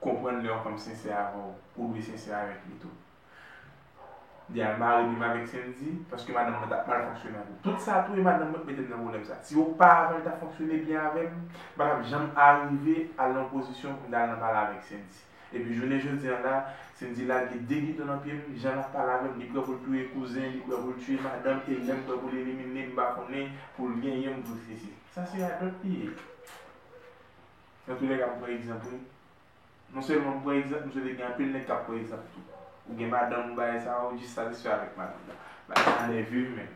Konprann lè yon fanm sensè avè w, ou dwe sensè avèk li tou. Li al mare li menm avèk Sendy paske madanm mwen t ap mal fonksyone avè l. Tout sa tou e madanm mwen k mete m nan pwoblèm sa. Si yo pa avè l ta fonksyone byen avè m, m pa t ap janm arive al nan pozisyon pou m ta al nan pale avèk Sendy. Epi jounen jodi an la, Sendy lage de gidon nan pye m, jan l ap pale avè m, li prè pou l touye kouzen, li prè pou l tiye madanm, e lè m prè pou l elimine m, m pa konnen, pou l genyen m, pou l sesi. Sa se radòt li ye. Nan tou lè ka m pran egzanp wi. Non sèlman m pran egzanp, m swete gen anpil nèg k ap pran egzanp tou. Ou gen madanm ou bagay sa a, ou jis satisfè avèk madanm ou. Bagay sa a nève m menm.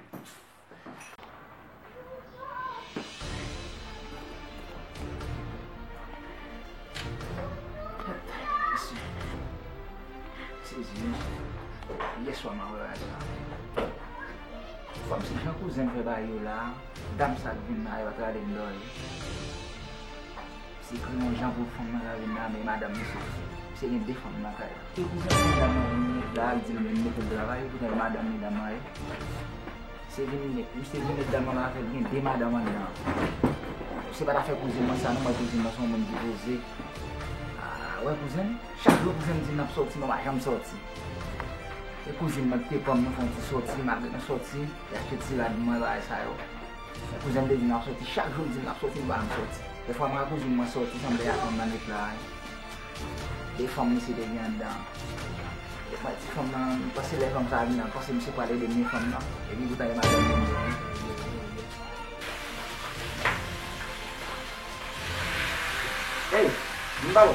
Dam sa k vin la yo ak laden dò yo. Se kri yon jan pou fanm nan ka vin la men madanm li sot di. Pske gen 2 fanm nan kay la. Se pou sa pou dam nan vin met la al di l vin mete l travay li tounen madanm li nan men l. Se vin met, misye vin met dam nan avè l gen 2 madanm anndan. Se pa t afè kouzen mwen sa non mwen kouzen mwen se yon moun ki poze. Aa wè kouzen m, chak jou kouzen m di n ap sòti mwen pa janm sòti. E kouzin mwen k te pran m nou fon ti sòti malgre nou sòti. Eske ti rad mwen bay sa yo. Kouzenm te di nap soti chak jou l dim nap soti l pa janm soti. Lè fwa mwen ak kouzin mwen soti sanble ak yon bann eplaj. De fanm misye te gen anndan an. De fwa ti fanm nan m panse lè fanm sa a vin nan m panse misye pral ede m ni fanm nan. Epi pou tande bagay yo menm jan. Eyy! Vin pa bò.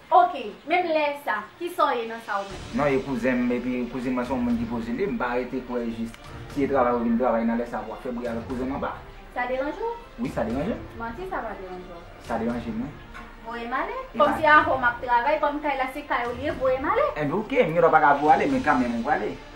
Ok, menm lè sa, kisa w ye nan sa ou menm? Non, e kouzen m, epi kouzin mwen se yon moun ki pozile, m pa rete kwè jis si e travay ou vin travay nan lè sa pou w ap fè bri avèk kouzen m anba. Sa deranje w? Wi, sa deranje m. Manti sa pa deranje w. Sa deranje m wi. Voye m ale. Kòm se avè w m ap travay, kòm kay la se kay ou li ye, voye m ale. Enben ok, m gen dwa pa ka voye w ale, men kanmenm ou prale.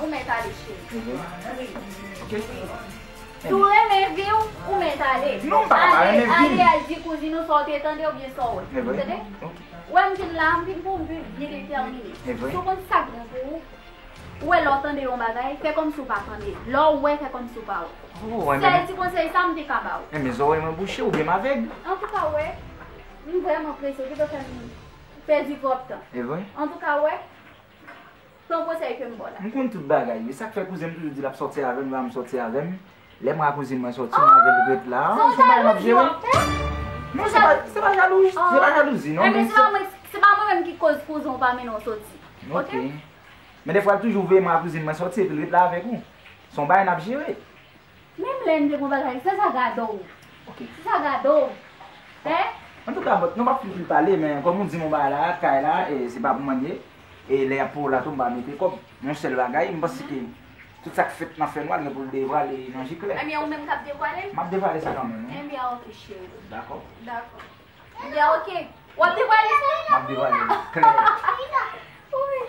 ou mèt ale cheri Wi, wi Si w renmen vi w, ou mèt ale Ale al di kouzin ou sa w te tande oubyen sa w wè Ou tande? Ou wè m vin la a, m vin pou m viv byen detèmine Si w konn sa k bon pou ou, ou wè lè w tande yon bagay, fè kòmsi w pa tande Lè w wè, fè kòmsi w pa wè Sèl ti konsèy sa a m te ka ba w Renmen zòrèy mwen bouche oubyen m avèg? Antouka wè, m vrèman prese, ou pito fè m pèdi twòp tan Antouka wè. Son konsèy kem baw la. M konn tout bagay wi sak fè kouzen m toujou di lap sòti avèm lè wam sòti avèm lè mwen a kouzin mwen sòti mwen avèl ret la se yon bagay map jere non se pa se pa jalouj se pa jalouzi non men se se pa mwen menm ki koz kouzen w pa mennen w sòti ok men defwa l toujou veye mwen a kouzin mwen sòti epil ret la avèk ou son bagay nap jere. Menm lè n te gon bagay se sa gadò w se sa gadò w fè. Antouka bon nou pap fout li pale men kòm ou di m yon bagay la kay la se pa pou mwen ye e lè yap pou la tou m pa mete kòb yon sèl bagay m panse ke tout sak fèt nan fènwa gen pou l devwale nan ji klè Ebyen ou menm kap devwale l? Map devwale sa kanmenm wi Ebyen ok cheri Dakò Dakò Ebyen ok Wap devwale sa? Map devwale l klè Wouyy.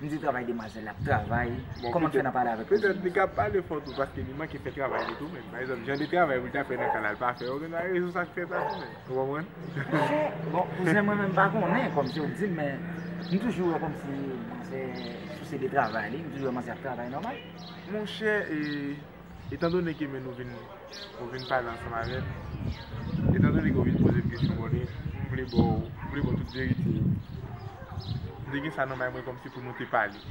M di travay demwazèl la ap travay, kòman m fè nan pale avèk Roseline sa? Petèt li ka pale fò tou paske li manke fè travay li tou menm. Pa egzanp, jan de travay pou l ta fè nan ka la, l pa fè. Ou gen dwa rezon sa k fè sa tou menm. Ou konprann? Bon, kouzen mwen menm m pa konnen kòmsi ou di m men, m toujou wè kòmsi manzè souse de travay li, m toujou wè manzè ap travay nòmal. Monchè e, Etan done ke men nou vin, ou vin pale ansanm avè m, etan done ke ou vin poze m kesyon bòne, m vle ba w, m vle ba w tout verite yo. M te gen sa nan may mwen kòmsi pou nou te pale.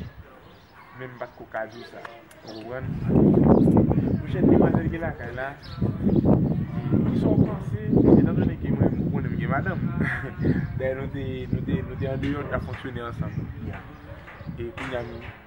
Men m pa t ko ka di w sa. Ou konprann? Mwen chè demwazèl ki lakay la, ki sa w panse, etan done ke mwen, ou konnen m gen madanm. Dayè nou te, nou te, nou te andeyò, nou t ap fonksyone ansanm. E kounye a m.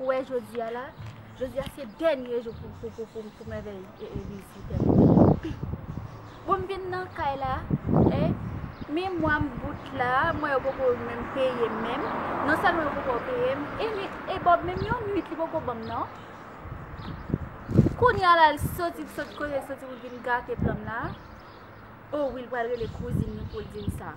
Ou wè jodi a la, jodi a se dènye jou pou mèvèy vizitè m. Bon m vin nan kay la, e, memwa m bout la, mwen yo poko menm peye m menm, non sèlman yo poko peye m, e li, e Bob menm yon nwit li poko ban m nan. Kounye a la l soti, l sot kote l soti pou l vin gate plan m la, o wi l pral rele kouzin li pou l di l sa.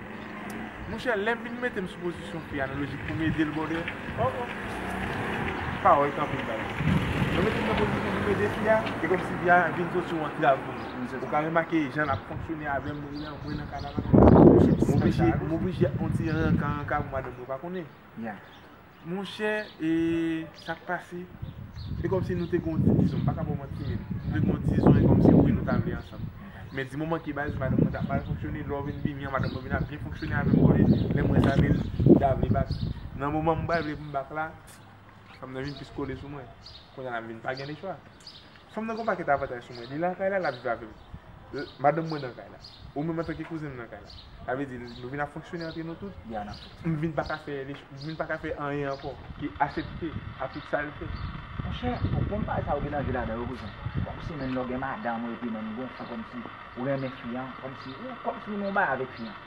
Monchè lèm vin metem sou pozisyon fi a nan lojik poum edel brother oh oh pawòl kanpe bay Mwen metem nan pozisyon poum ede fi a e kòmsi fi a vin sot yon antrav pou mwen ou ka remake jan lap fonksyone avèm mwen nan kanaval m oblije m oblije yon ti renka renka pou madanm yo pa konnen. Monchè e sak pase? Se kòmsi nou te gen yon ti dizon, m pa ka ba w manti menm. Nou te gen yon dizon e kòmsi wi nou ta vle ansanm. Men di moman ki baz, madanm mwen t ap mal fonksyone, lè w vin vini an madanm mwen vin ap byen fonksyone avè m konnen lè m wè sa men m ta vle bak. Nan moman m pral vle pou m bak la, fanm nan vin plis kole sou mwen. Kounye a la m vin pa gen lechwa. Fanm nan gen yon pakèt avantaj sou mwen. Li lakay la, l ap viv avè m. Madanm mwen nan kay la. Ou menm antanke kouzen m nan kay la. Sa vle di, nou vin ap fonksyone antre nou tout. M vin pa ka fè, m vin pa ka fè anyen ankò ke asepte a tout sa l fè. Monchè, ou konn bagay sa ou gen anvi ladan yo kouzen. Kòmsi menm lè w gen madanm ou epi menm gonfle kòmsi ou renmen fi an, kòmsi ou nan yon bagay avèk fi an.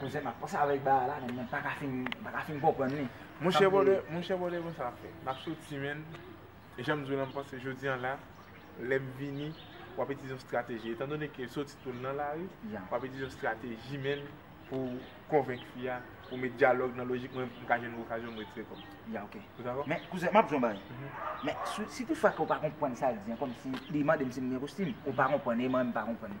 Koze map pase avek bae la men mwen paka fin konprann li. Monchè bòdè monchè bòdè konsa ap fè. Map soti menn e janm di w la m panse jodi an la lèm vini wap itilize yon strateji etan done ke soti tou nan lari wap itilize yon strateji menn pou w konvenk fi a pou met dyalòg nan lojik mwen m ka jwenn okazyon m retire kòm. Ya ok. Ou dakò? Men kouzen map di w yon bagay men si tou fwa ke w pa konprann sa l di an kòmsi li mande m si m gen kostim ou pa konprann e mwen m pa konprann.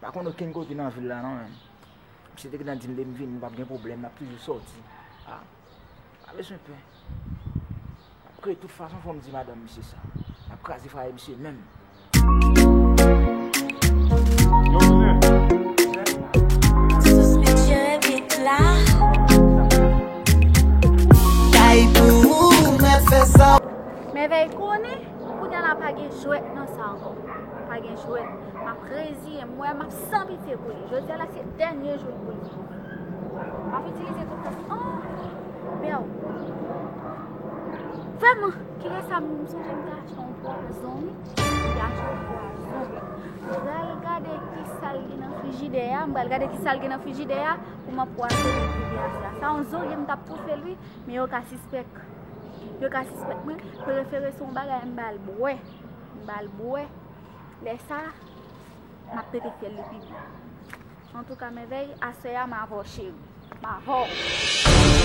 Pa konn okenn kote nan vil la non men. Misye te gentan dim lem vini pap gen pwoblèm nap toujou sòti. Ah pa bezwen pè. Apre tout fason fòm di madanm misye sa. Map kraze fwaye misye menm. Mèvèy konnen kounya la pa gen jwèt nan sa ankò. Pa gen jwèt. Map reziyen mwen map san pitye pou li. Jodi a la se dènye jou pou li. Map itilize tout fòs. Oh! Bèw. Vèman, ki lè sa moun sou jen ta chan pou a zon mi. Ya chan pou a zon mi. Bèl gade ki sal gen nan frijide ya. Bèl gade ki sal gen nan frijide ya. Pou map pou a zon mi pou li a zon. Sa yon zon gen mtap pou fè li. Men yo ka sispek. Yo ka sispek mwen. Prefere son bagay mbal bwe. Mbal bwe. Lè sa, m ap pete fyèl li pi byen. Antouka mèvèy, aswè a m avè w cheri. M avè w!